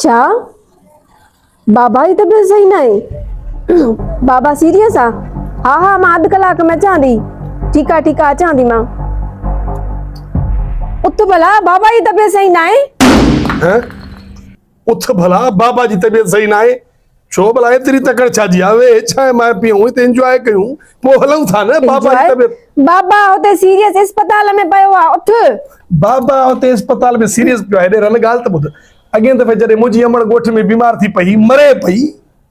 ڇا بابا جي طبيعت صحيح ناهي؟ بابا سيريس آ؟ ها ها مان اڌ ڪلاڪ ۾ اچان ٿي. ٺيڪ آ ٺيڪ آ اچان ٿي مان. اٿ ڀلا بابا جي طبيعت صحيح ناهي. هه اٿ ڀلا بابا جي طبيعت صحيح ناهي. ڇو ڀلا ايتري تڪڙ ڇا جي آهي اهي ڇا ايم آء پيون هتي انجواء ڪيون پوء هلون ٿا نه بابا جي طبيعت بابا هتي سيريس اسپتال ۾ پيو آهي اٿ بابا هتي اسپتال ۾ سيريس پيو آهي ڏير هن ڳالهه ته ٻڌ اڳين دفعي جڏهن منهنجي امڙ ڳوٺ ۾ بيمار ٿي پئي مري پئي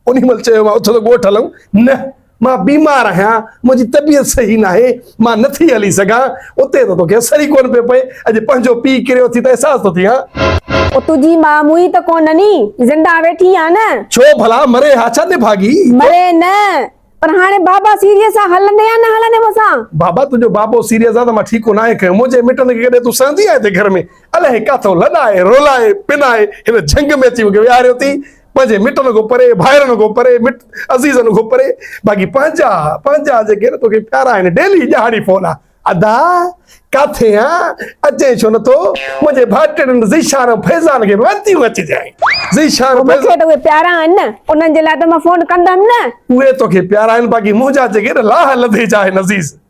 انهي مهل چيو مان اٿ ته ڳوٺ هلون نه مان بيمار آهيان، منهنجي طبيعت صحيح ناهي، مان نه ٿي هلي سگهان، اتي ته توکي اثر ئي ڪونه پيو پئي، اڄ پنهنجو پيء ڪريو ٿي ته احساس ٿو ٿئين. او تنهنجي ماء موئي ته ڪونه ني، زنده ويٺي آهي نه. ڇو ڀلا مري ها ڇا نڀاڳي. مري نه، پر هاڻي بابا سيريس آ، هلندين يا نه هلندين مون سان؟ بابا تنهنجو بابو سيريس آ ته مان ٺيڪو ناهي کنيو، منهنجي مٽن کي ڪڏهن تون سهندي آهين هتي گهر ۾، الائي ڪاٿو لڏائي رولائي پنائي هن جهنگ ۾ اچي مونکي ويهاريو ٿي، پنهنجي مٽن کان پري، ڀائرن کان پري، مٽ عزيزن کان پري، باقي پنهنجا، پنهنجا جيڪي نه توکي پيارا آهن، ڊيلي ڏهاڙي فون آ، ادا ڪاٿي آ، اچين ڇو نٿو، منهنجي ڀائٽيڻين ذيشان ۽ فيضان کي به وتيون اچجانء، ذيشان ۽ فيضان. مون کي ته اهي پيارا آهن نه، انهن جي لاء ته مان فون ڪندم نه. اهي توکي پيارا آهن، باقي منهنجا جيڪي نه لاهه لڌي جا آهن عزيز.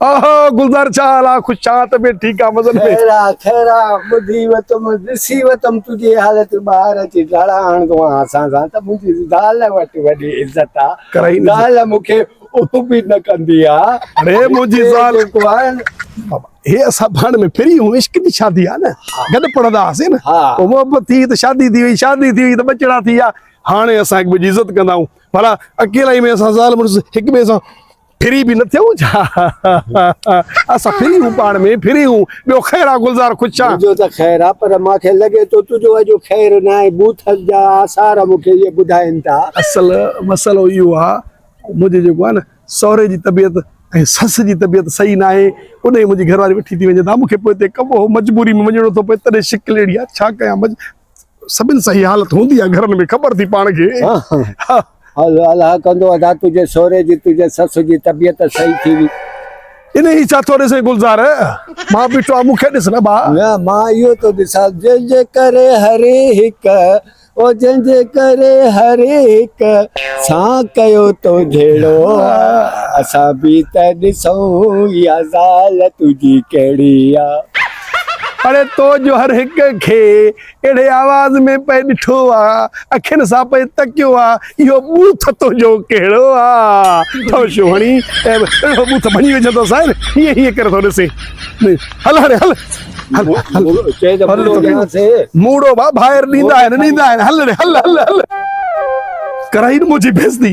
آها گلزار ڇا حال آ خوش آن ته به ٺيڪ آ مزن ۾. خير آ خير آ ٻڌي وتم ڏسي وتم تنهنجي حالت ٻاهر اچي ڊاڙا آڻندو آهان اسان سان ته منهنجي زال وٽ وڏي عزت آ زال مون کي اف به نه ڪندي آ اڙي منهنجي زال بابا هي اسان ڀاڻ ۾ پھرين هون عشق جي شادي آ نه گڏ پڙهندا هئاسين نه پوء محبت ٿي ته شادي ٿي وئي شادي ٿي وئي ته ٻچڙا ٿي ويا هاڻي اسان هڪٻئي جي عزت ڪندائون ڀلا اڪيلائي ۾ اسان زال مڙس هڪٻئي سان ڦري به نه ٿيون ڇا اسان ڦري هون پاڻ ۾ ڦري هون ٻيو خير آ گلزار خوش ڇا جو ته خير آ پر مان کي لڳي ٿو تنهنجو اڄ خير نه آهي بوٿل جا آثار مون کي اهي ٻڌائين ٿا اصل مسئلو اهو آ منهنجي جيڪو آ نه سهري جي طبيعت ۽ سس جي طبيعت صحيح نه آهي ان ۾ منهنجي گهر واري وٺي ٿي وڃي ته مون کي پوء اتي ڪم هو مجبوري ۾ وڃڻو ٿو پئي تڏهن شڪل اهڙي آ ڇا ڪيان سڀن سان هي حالت هوندي آ گهرن ۾ خبر ٿي پاڻ کي ها الله ڪندو ادا تنهنجي سهري جي تنهنجي سس جي طبيعت صحيح ٿي وي. انهي ڇا ٿو ڏسين گلزار مان بيٺو آهيان مون کي ڏس نه ڀاء. نه مان اهو ٿو ڏسان جنهن جي ڪري هر هڪ او جنهن جي ڪري هر هڪ سان ڪيو تو جهيڙو اسان به ته ڏسون اها زال تنهنجي ڪهڙي آ. اڙي تو جو هر هڪ کي اهڙي آواز ۾ پئي ڏٺو آ، اکين سان پئي تڪيو آ، اهو ٻوٿ تنهنجو ڪهڙو آ؟ ٺهه شوهڻي اهڙو ٻوٿ ڀڃي وجهي ٿو سائين، هيئن هيئن ڪري ٿو ڏسين. هل هاڻي هل. هل هل. چئي ته موڙو ڏيانس. موڙو ڀا ڀائر ڏيندا آهن، ڏيندا آهن. هل اڙي هل هل هل. ڪرائين منهنجي بيعزتي.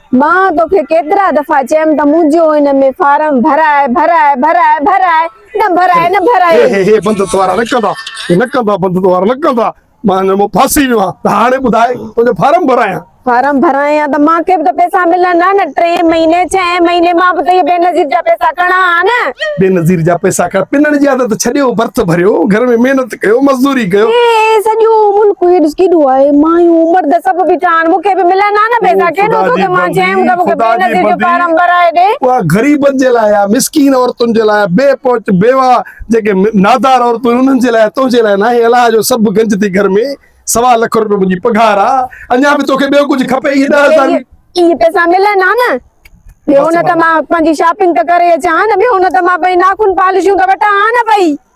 مان توکي ڪيترا دفعا چيم ته منهنجو ان ۾ فارم ڀراء ڀراء ڀراء ڀراء نه ڀراء نه ڀراء هي هي هي بند توار نه ڪندا هي نه ڪندا بند توار نه ڪندا مان هن ۾ ڦاسي ويو آهيان ته هاڻي ٻڌاء تنهنجو فارم ڀرايان فارم ڀرايان ته مان کي به ته پئسا ملن ها نه ٽي مهيني ڇهين مهيني مان به ته اهي بينظير جا پئسا کڻان ها نه بينظير جا پئسا کڻ پنڻ جي عادت ڇڏيو برٿ ڀريو گهر ۾ محنت ڪيو مزدوري ڪيو اي سڄو ملڪ هي ڏس ڪيڏو آهي مايون مرد سڀ بيٺا آهن مون کي به ملن ها نه پيسا ڪيڏو ٿو ته مان چيم ته مون کي بي نظير جو فارم ڀرائي ڏي اها غريبن جي لاء آهي مسڪين عورتن جي لاء بي پهچ بيوا جيڪي نادار عورتون انهن جي لاء تنهنجي لاء ناهي الاء جو سڀ گنج ٿي گهر ۾ سوا لک روپيو منهنجي پگهار آهي اڃا به توکي ٻيو ڪجهه کپي اهي ڏهه هزار اهي پيسا ملن ها نه ٻيو نه ته مان پنهنجي شاپنگ ته ڪري اچان ها نه ٻيو نه ته مان پنهنجي ناخن پالشون ته وٺان ها نه پئي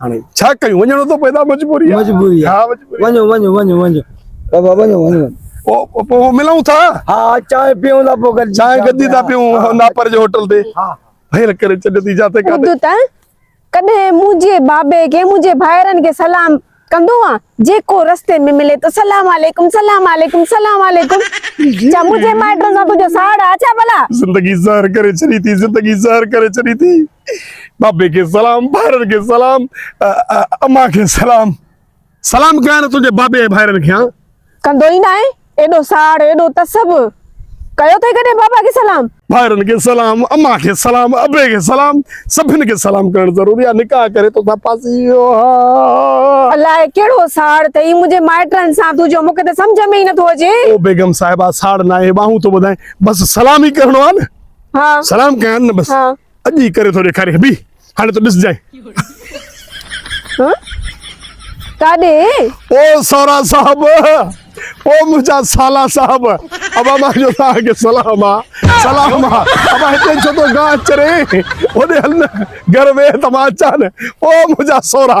هاڻي ڇا ڪيون وڃڻو ٿو پئي ٿا مجبوري مجبوري ها مجبوري وڃو وڃو وڃو وڃو بابا وڃو وڃو پو پو ملون ٿا ها چانه پيون ٿا پو گڏ چانه گڏي ٿا پيون ناپر جي هوٽل تي ها هير ڪري چڏ ٿي جاته ڪاته ته ڪڏهن منهنجي بابي کي منهنجي ڀائرن کي سلام ڪندو آ جيڪو رستي ۾ ملي ته سلام عليڪم سلام عليڪم سلام عليڪم چا منهنجي مائٽن سان تنهنجو ساڙ آ ڇا ڀلا زندگي زهر ڪري ڇڏي ٿي زندگي زهر ڪري ڇڏي ٿي بابي کي سلام ڀائرن کي سلام امان کي سلام سلام ڪيا نه تنهنجي بابي ۽ ڀائرن کي ها ڪندو ئي ناهي ايڏو ساڙ ايڏو تسب ڪيو ٿي ڪڏهن بابا کي سلام ڀائرن کي سلام امان کي سلام ابي کي سلام سڀن کي سلام ڪرڻ ضروري آ نڪاح ڪري تو سان پاسي ويو ها الاء ڪهڙو ساڙ تئي منهنجي مائٽن سان تو جو مونکي ته سمجھ ۾ ئي نٿو اچي او بيگم صاحبا ساڙ ناهي ٻانهون ٿو ٻڌائين بس سلام ئي ڪرڻو آ نه ها سلام ڪيا نه بس اڄ ئي ڪري ٿو ڏيکاريان بيھ هاڻي ته ڏسجانء. ڪاڏي؟ او سورا صاحب او منهنجا سالا صاحب ابا مان جو توهان کي سلام آ سلام آ ابا هتي ڇو ٿو گاھ چرين هوڏي هل نه گهر ويھ ته مان اچان نه او منهنجا سورا.